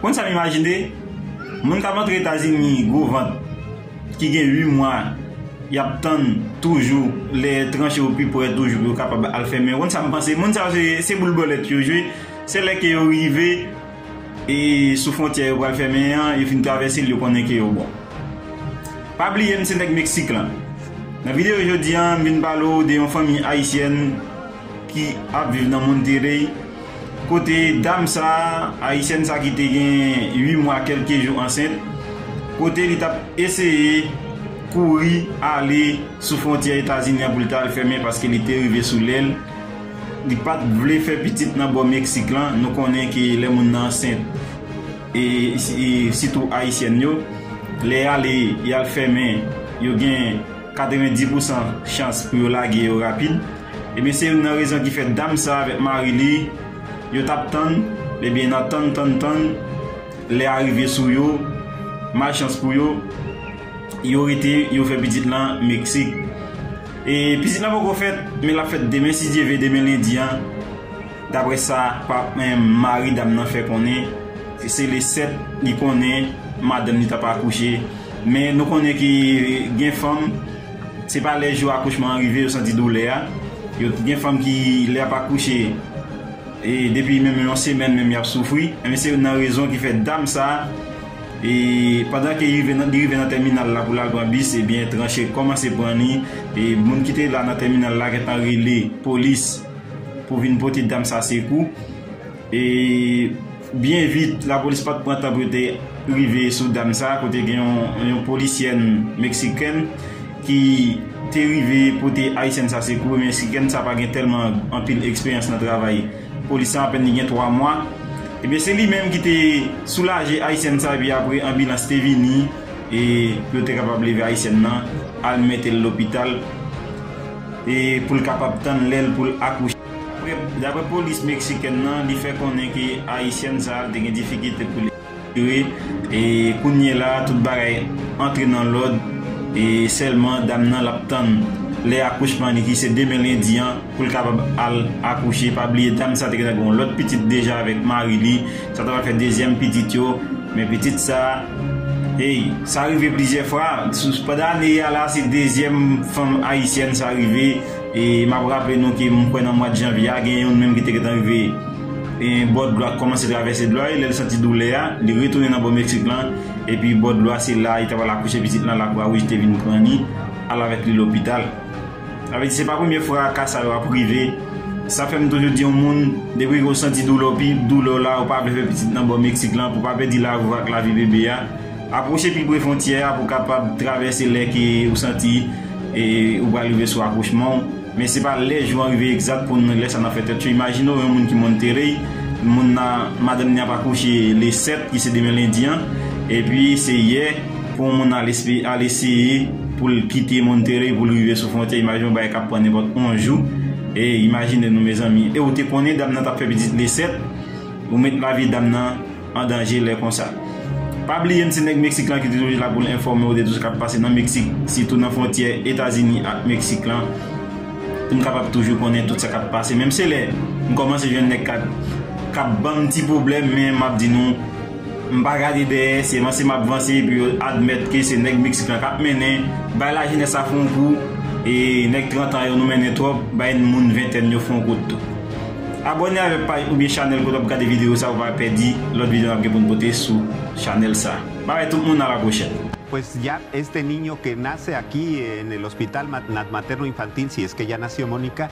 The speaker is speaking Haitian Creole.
Konn sa m imajine? Moun k ap antre Etazini gwo vant, ki gen 8 mwa y ap tann toujou lè tranche yo pi pre toujou pou yo kapab al fèmen yo. Konn sa m panse? Moun sa yo se boul bòlèt yo jwe. Se lè ke yo rive e sou fwontyè yo pral fèmen an, yo fin travèse l yo konnen ke yo bon. Pa bliye m se nèg Meksik lan. Nan videyo jodi an, m vin pale w de yon fanmi ayisyèn. ki ap viv nan Monterrey, kote dam sa, ayisyèn sa ki te gen 8 mwa kelke jou ansent, kote li tap eseye kouri ale sou fwontyè Etazini an pou li ta al fèmen paske li te rive sou lèl, li pat vle fè pitit nan bò Meksik lan, nou konnen ke lè moun nan ansent e sitou ayisyèn yo, lè yale yal fèmen yo gen. 90 pousan chans pou yo lage yo rapid ebyen se youn nan rezon ki fè dam sa avèk mari li yo tap tann ebyen nan tann tann tann lè a rive sou yo malchans pou yo yo rete yo fè pitit lan meksik e pitit lan poko fèt men lap fèt demen si Dye ve demen lendi an. Daprè sa mari dam nan fè konnen, se le 7 li konnen madanm li t ap akouche. Men nou konnen ke gen fanm, se pa lè jou akouchman an rive yo santi doulè a. Gen fanm ki lè y ap akouche, depi menm yon semèn menm y ap soufri. Ebyen se youn nan rezon ki fè dam sa, pandan ke li rive nan tèminal la pou l al pran bis, ebyen tranche kòmanse pran li. Moun ki te la nan tèminal la gentan rele polis. pou vin pote dam sa sekou e byen vit lapolis pat pran tan pou yo te rive sou dam sa kote gen yon polisyèn meksikèn ki te rive pote ayisyèn sa sekou e meksikèn sa pa gen tèlman anpil eksperyans nan travay polis lan apèn li gen 3 mwa e byen se li menm ki te soulaje ayisyèn sa e pi apre anbilans te vini e pou yo te kapab leve ayisyèn nan al mete l lopital. pou l kapab tann lè l pou l akouche. Daprè polis meksikèn nan, li fè konnen ke ayisyèn sa te gen difikilte pou l ekspire e kounyela tout bagay antre nan lòd e sèlman dam nan l ap tann lè akouchman li ki se demen lendi an pou l kapab al akouche. Pa bliye dam sa te gentan gen yon lòt pitit deja avèk mari li. Sa ta fè dezyèm pitit yo, men pitit sa, hey, sa rive plizyè fwa, pandan ane a la se dezyèm fanm ayisyèn sa rive, e m ap raple nou ke m kwè nan mwad janvye a gen youn menm ki te gentan rive bò dlo a, kòmanse travèse dlo a e lè l santi doulè a, li retounen nan bò Meksik lan, epi bò dlo a se la li ta pral akouche pitit lan, Lakwawouj te vin pran li, al avèk li lopital. Sa vle di se pa premye fwa ka sa yo ap rive, sa fè m toujou di yon moun depi ke w santi doulè w pi doulè w la ou pa vle fè pitit nan bò Meksik lan pou pa pèdi lavi w ak lavi bebe a, apwoche pi pre fontyè a pou w kapab travèse lè ke ou santi ou pral rive sou akouchman w, men se pa lè jou an rive egzat pou n lè sa nan fè tèt cho, imajine w yon moun ki Monterrey, moun nan madanm ni ap akouche le 7 ki se demen lendi an, epi se yè. Pou yon moun al espe, al eseye pou l kite Monterey pou l rive sou fwontyè, imajine yon bagay k ap pran nenpòt yon jou. E imajine nou mezanmi. E ou te konnen dam nan t ap fè pitit le 7, ou met lavi dam nan an danje lè konsa. Pa bliye m se nèg Meksik lan ki te toujou la pou l enfòme ou de tout sa k ap pase nan Meksik, sitou nan fwontyè Etazini ak Meksik lan, pou n kapab toujou konnen tout sa k ap pase. Menm se lè m kòmanse jwenn nèg k ap ban m ti pwoblèm, men m ap di nou, M pa gade dèyè, se vanse m ap vanse pou yo admèt ke se nèg Meksik lan k ap mennen, bay lajenès la fon kou, e nèg 30 an yo nou mennen twòp, bay moun ventèn yo fon kout tou. Abòne avèk paj oubyen chanèl kote w ap gade videyo sa pou w pa pèdi lòt videyo n ap gen pou n pote sou chanèl sa. Bay bay tout moun a la pwochèn. Pues ya este niño que nace aquí en el Hospital Materno Infantil si es que ya nació Monica,